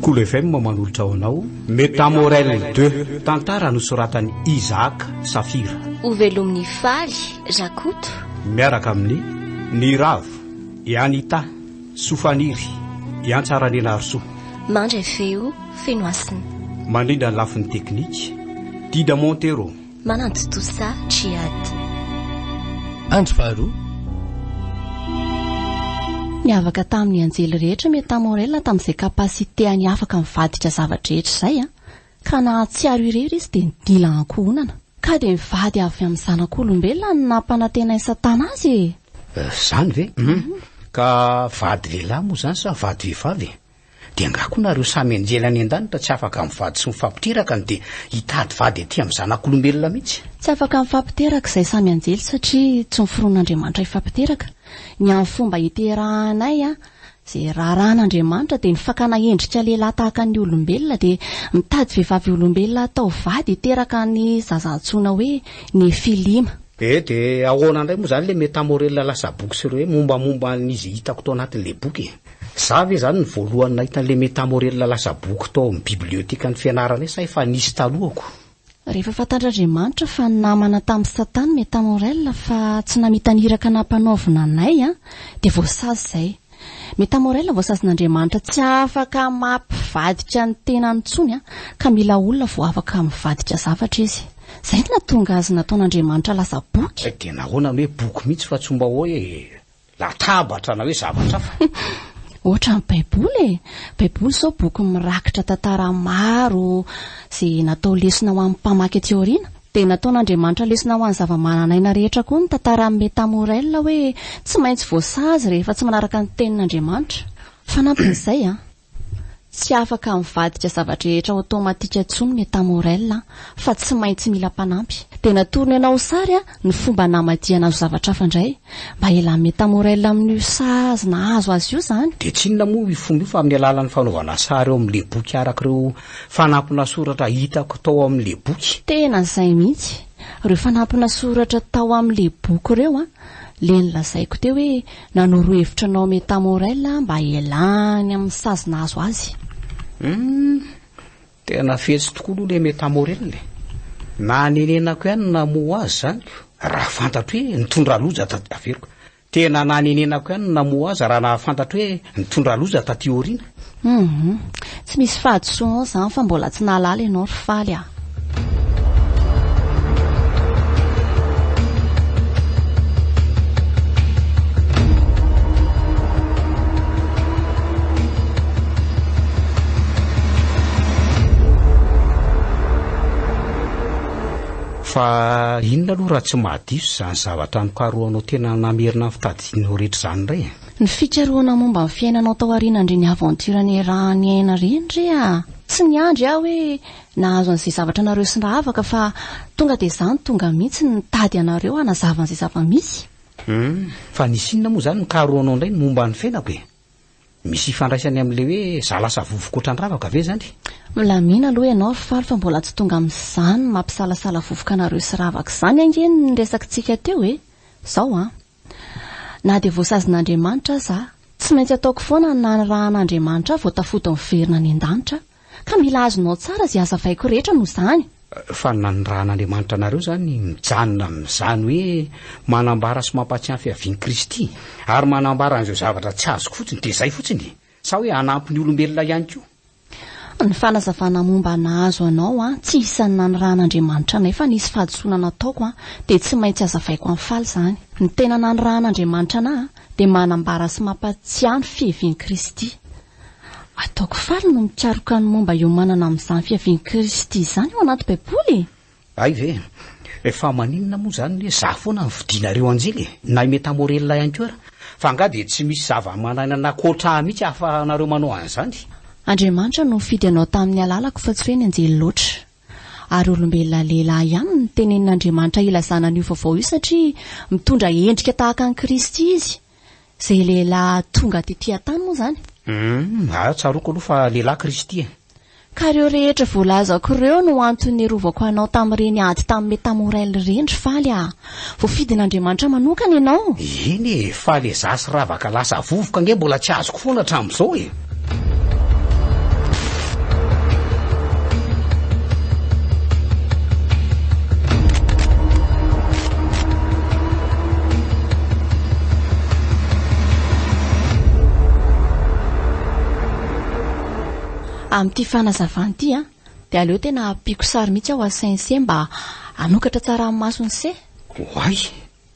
Cool FM manolotra ho anao Metamorelle 2, tantara nosoratan'i Isaac Safira. Ho velomin'ny faly, Rakoto. Miaraka amin'ny Ny Ravo, i Anita, Sofaniry, i Antsaranianarisoa. Mandray feo, feno hasina. Mandrindra ny lafiny teknika, Dida Montero. Manantontosa Djihad. Andro faharoa. Niavaka tamin'ny anjely rehetra Meta Morella tamin'izay capacité-any afaka mivadika zava-drehetra izay an! Ka nahatsiaro irery izy dia nila ankohonana. Ka dia mivady avy amin'ny zanak'olombelona no nampanantenain'i Satana azy e! Izany ve? Ka vady lehilahy moa izany sa vady vehivavy e? Dia angaha koa nareo samy anjely any an-danitra tsy afaka mivady sy mifampiteraka no dia hitady vady aty amin'ny zanak'olombelona mihitsy? Tsy afaka mifampiteraka izay samy anjely satria tsy noforonin'Andriamanitra hifampiteraka. Ny amin'ny fomba hiterahanay izay raharahan'Andriamanitra dia ny fakana endrika lehilahy tahaka ny olombelona dia mitady vehivavy olombelona hatao vady hiteraka ny zaza antsoina hoe Nefilima. Ee dia ahoana indray moa izany ilay metamorella lasa boky sy ireo hoe mombamomba an'izy hitako tao anatin'ilay boky e? Za ve zany ny voalohany nahita an'ilay Metamorella lasa boky tao amin'ny bibliotekan'ny fianarana io sa efa nisy talohako? Rehefa fantatr'Andriamanitra fa namana tamin'i Satana Metamorella fa tsy namita ny iraka nampanaovina anay an, dia voasazy izay. Metamorella voasazin'Andriamanitra tsy afaka mampivadika ny tenany intsony an, ka mila olona vao afaka mivadika zavatra izy. Izay no nahatonga azy nataon'Andriamanitra lasa boky. Dia nahoana no hoe boky mihitsy fa tsy mba hoe Latabatra na hoe zavatra hafa. Hoatra ny baiboly e! Baiboly izao boky mirakitra tantara maro izay natao lesona ho an'ny mpamaky aty aoriana. Dia nataon'Andriamanitra lesona ho an'ny zava-manan'aina rehetra koa ny tantaran'i Meta Murrell hoe tsy maintsy voasazy rehefa tsy manaraka ny tenin'Andriamanitra. Fanampin'izay, Tsy afaka mivadika zava-drehetra automatika intsony ny État Morel an, fa tsy maintsy mila mpanampy. Dia natorony anao sary an, ny fomba namadihana azy ho zavatra hafa indray. Mba ialany ny État Morel amin'io sazy nahazo azy io izany. Dia tsy inona moa io fomba io fa amin'ny alalan'ny fanaovana sary ao amin'ilay boky araka ireo fanampina soratra hitako tao amin'ilay boky. Tena izay mihitsy. Ireo fanampina soratra tao amin'ilay boky ireo an, ilay nolazaiko teo hoe, Nanoro hevitra anao Meta Morel mba hialany amin'ny sazy nahazo azy. Humm, tena fetsy tokoa aloha le Meta Morel e. Nanenenako ihany ny namoha azy izany ko, raha fantatro hoe nitondra loza taty, averiko, tena nanenenako ihany ny namoha azy raha nahafantatro hoe nitondra loza taty aoriana. Humm. Tsy misy fahadisoana ao izany fa mbola tsy nahalala ianao ry faly a. Fa inona aloha raha tsy mahadiso izany zavatra nikarohanao tena namerina ny fitadidianao rehetra izany indray e? Ny fikarohana momba ny fiainanao tao aoriana ndry ny aventure niaraha niaina reny re a! Tsy niandry aho hoe nahazo an'izay zavatra anareo sy rahavaka fa tonga dia za no tonga mihitsy no nitady anareo hanazava an'izay zava-misy. Hum, fa nisy inona moa izany nikarohanao indray ny momba ny fiainako e? Misy ifandraisany amin'ilay hoe za lasa vovoka ohatran'ny ravaka ve izany? Milamina aloha ianao ry faly fa mbola tsy tonga amin'izany mampisalasala vovoka anareo sy ravaka izany ange ny resakintsika teo e! Zao an! Na dia voasazin'Andriamanitra aza aho, tsy maintsy ataoko foana ny nanirahana Andriamanitra ahy vao tafody miverina any an-danitra aho. Ka mila azonao tsara izay hazavaiko rehetra noho izany. Fa ny nanirahan'Andriamanitra anareo izany mijanona amin'izany hoe manambara sy mampahatsiahy ny fiavian'i Kristy, ary manambara an'izao zavatra tsy azoko fotsiny, dia izay fotsiny e! Sa hoe hanampy ny olombelona ihany koa? Ny fanazavana momba ny hazo anao an, tsy isan'ny nanirahan'Andriamanitra anay fa nisy fahadisoana nataoko an, dia tsy maintsy hazavaiko an'i Faly izany. Ny tena nanirahan'Andriamanitra anay an, dia manambara sy mampatsiahy ny fiheven'i Kristy. Ataoko faly ny mikaroka ny momba iomanana amin'izany fiheven'i Kristy izany ao anaty Baiboly e! Hay ve? Fa maninona moa izany hoe za foana no fidinareo anjely e? Na i Meta Morella ihany koa ary? Fa angaha dia tsy misy zava-manainana ankoatra ahy mihitsy ahafahanareo manao an'izany? Andriamanitra no nifidy anao tamin'ny alalako fa tsy hoe ny anjely loatra. Ary olombelona lehilahy ihany no notenenin'Andriamanitra hilazana an'io vaovao io satria mitondra endrika tahaka an'i Kristy izy. Izay lehilahy tonga tetỳ an-tany moa izany? Humm, ah, tsaroako aloha fa lehilahy Kristy e! Ka ireo rehetra voalazako ireo no antony niarovako anao tamin'ireny ady tamin'i Metamorel ireny ry Faly a! Voafidin'Andriamanitra manokana ianao! Eny e, fa le za sy Ravaka lasa vovoka ange mbola tsy azoko foana hatramin'izao e! Amin'ity fanazavana ity an, dia aleo tena ampiako sary mihitsy aho à Saint Cie mba hanokatra tsara amin'ny mason'i Cie. Oay,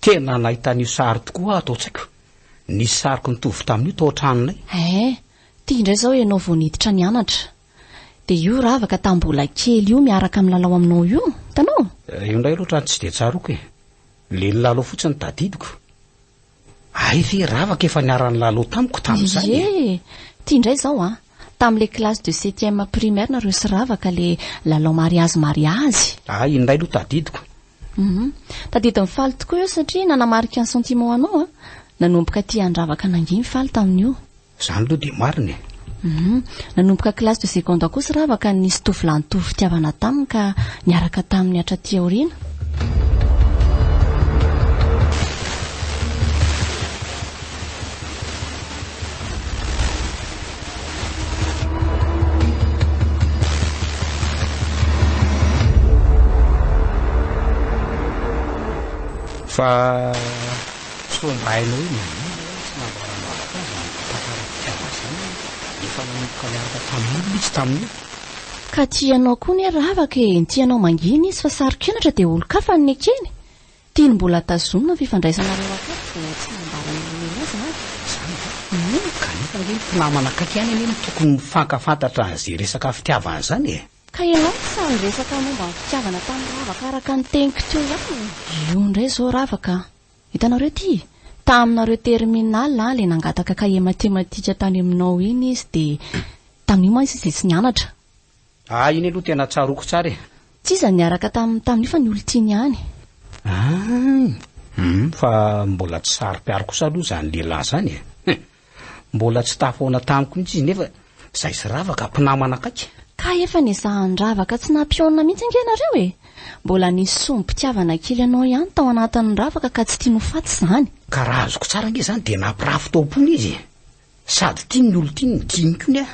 tena nahita an'io sary tokoa aho tao an-tsaiko. Nisy sariko nitovy tamin'io tao an-tranonay. Ee, ity indray izao ianao vao niditra nianatra. Dia io ravaka tamin'ny mbola kely io miaraka milalao aminao io, hitanao? Io indray aloha otrany tsy dia tsaroako e. Ilay nilalao fotsiny tadidiko. Hay ve ravaka efa niara-nilalao tamiko tamin'izay e! Iiee! Ty ndray zao an! Tamin'ilay classe de septième primaire nareo sy ravaka le lalao mariazy mariazy! Hay indray aloha tadidiko. Humm. Tadidin'i Faly tokoa io satria nanamarika ny sentiment-nao an! Nanomboka tia an-dravaka nanginy Faly tamin'io. Zany aloha dia marina e. Hum, nanomboka classe de seconde aho kosa rava ka nisy tovolahy nitovy fitiavana taminy ka niaraka taminy hatraty aoriana. Fa. Sao mba hainao hoe naninona hono tsy nambaran'afaka azy ny tantara Tiana azy zany hoe efa nanomboka niaraka tamin'olona izy tamin'io? Ka tianao koa ne ravaka e, ny tianao mangina izy fa saro-kenatra dia olon-kafa no nekeny. Tiany mbola tazomina ny fifandraisanareo akory vao tsy nambara nilomeno azy na izany ve? Hum, kanefa ange ny mpinamana akaiky ihany anie no tokony mifankafantatra an'izay resaka fitiavana izany e! Ka ianao ve sa niresaka momba ny fitiavana tamin'i Ravaka araka ny teniko teo ihany e? Io indray izao Ravaka a! Hitanareo ity? Taminareo terminale ilay nangataka kahie matematika tany aminao iny izy dia tamin'io mantsy izy dia tsy nianatra. Ah iny aloha tena tsaroako tsara e! Tsy iza niaraka taminy tamin'io fa ny olon-tiany ihany. Ah! Hum, fa mbola tsy saro-piaro kosa aloha izany lehilahy izany e! Mbola tsy tafahoana tamiko mihitsy izy nefa izay sy ravaka, mpinamana akaiky. Ka efa nezahan-dravaka tsy nampihaonina mihitsy ange ianareo e! Mbola nisy sombim-pitiavana kely anao ihany tao anatin'ny ravaka ka tsy tiany ho faty izany. Ka raha azoko tsara ange izany dia nampirafy tao am-pony izy e! Sady tiany ny olon-tiany, tiany koa ny ahy.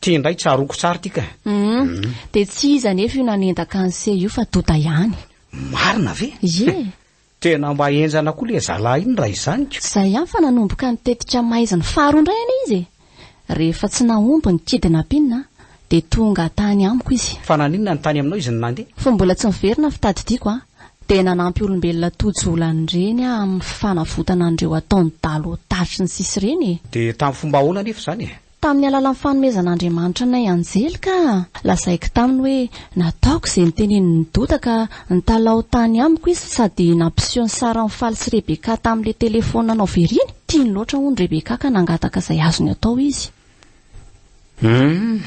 Ty indray tsaroako tsara ty ka. Humm. Dia tsy izy anefa io nanendaka an'i Sé io fa Dota ihany. Marina ve? Ie. Tena mba henjana koa le zalahy iny raha izany ko. Zay ihany fa nanomboka ny tetika maizina faharoa indray anie izy e! Rehefa tsy nahomby ny kidnapping a! Dia tonga tany amiko izy. Fa naninona no tany aminao izy no nandeha? Fony mbola tsy niverina ny fitadidiako a! Dia nanampy olombelona tojo olany ireny aho amin'ny fanavotana an'ireo ataon'i Dalo tatry ny sisa ireny e! Dia tamin'ny fomba ahoana anefa izany e? Tamin'ny alalan'ny fanomezan'Andriamanitra anay anjely ka lazaiko taminy hoe nataoko izay notenenin'i Doda ka nitalaho tany amiko izy sady nampiseho ny saran'i Faly sy Rebecca tamin'ilay telefaonina anao very iny. Tiany loatra hono Rebecca ka nangataka izay azony atao izy. Humm.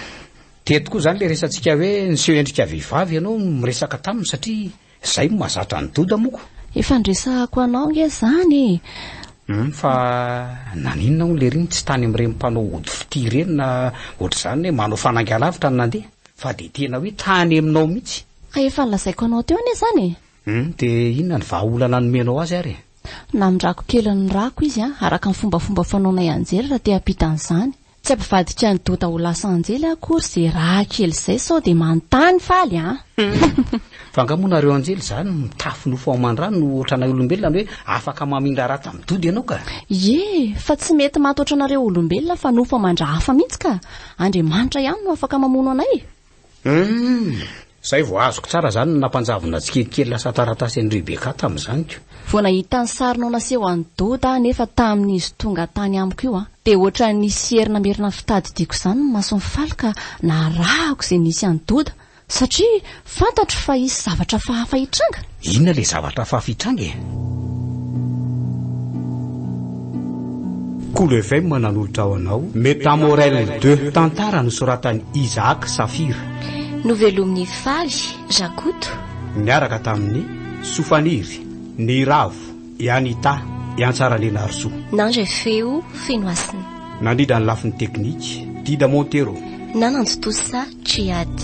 Teto koa izany ilay resatsika hoe niseho endrika vehivavy ianao no miresaka taminy satria Izay no mahazatra an'i Doda moa ko! Efa niresahako anao nge izany e! Humm fa naninona hono lery tsy tany amin'ireny mpanao ody fitia ireny na ohatr'izany hoe manao fanainga-lavitra no nandeha fa dia tena hoe tany aminao mihitsy! Ka efa nolazaiko anao teo anie izany e! Humm dia inona ny vahaolana nomenao azy ary e! Namindrako kely ny rako izy araka ny fombafomba fanaonay anjely raha te hampita an'izany! Tsy ampivadika an'i Dota ho lasa anjely aho akory ze raha kely zay sao de manontany faly an! Fa nga moa nareo anjely zany mitafy nofo ao aman-drano no otranay olombelona ny hoe afaka mamindra ratsy amin'ny dody ianao ka! Ie, fa tsy mety maty otranareo olombelona fa nofo aman-dra hafa mihitsy ka! Andriamanitra ihany no afaka mamono anay e! Humm, zay vao azoko tsara zany ny nampanjavona tsikelikely lasa taratasy an'i Rebecca tamin'izany ko. Vao nahita ny sarinao naseho an'i Doda aho nefa tamin'izy tonga tany amiko io an, dia ohatran'ny nisy hery namerina ny fitadidiako izany ny masony faly ka narahako izay nisy an'i Doda satria fantatro fa hisy zavatra fahafa hitranga. Inona ilay zavatra hafa avy hitranga e? Kolo FM nanolotra ho anao Metamorel de tantara nosoratan'i Isaac Saphir. Novelomin'i Faly Rakoto. Niaraka tamin'i Sofaniry, Ny Ravo, i Anita, i Antsaraleniarisoa. Nandray feo Fenohasina. Nandrindra ny lafiny teknika, Dida Montero. Nanantontosa Djihad.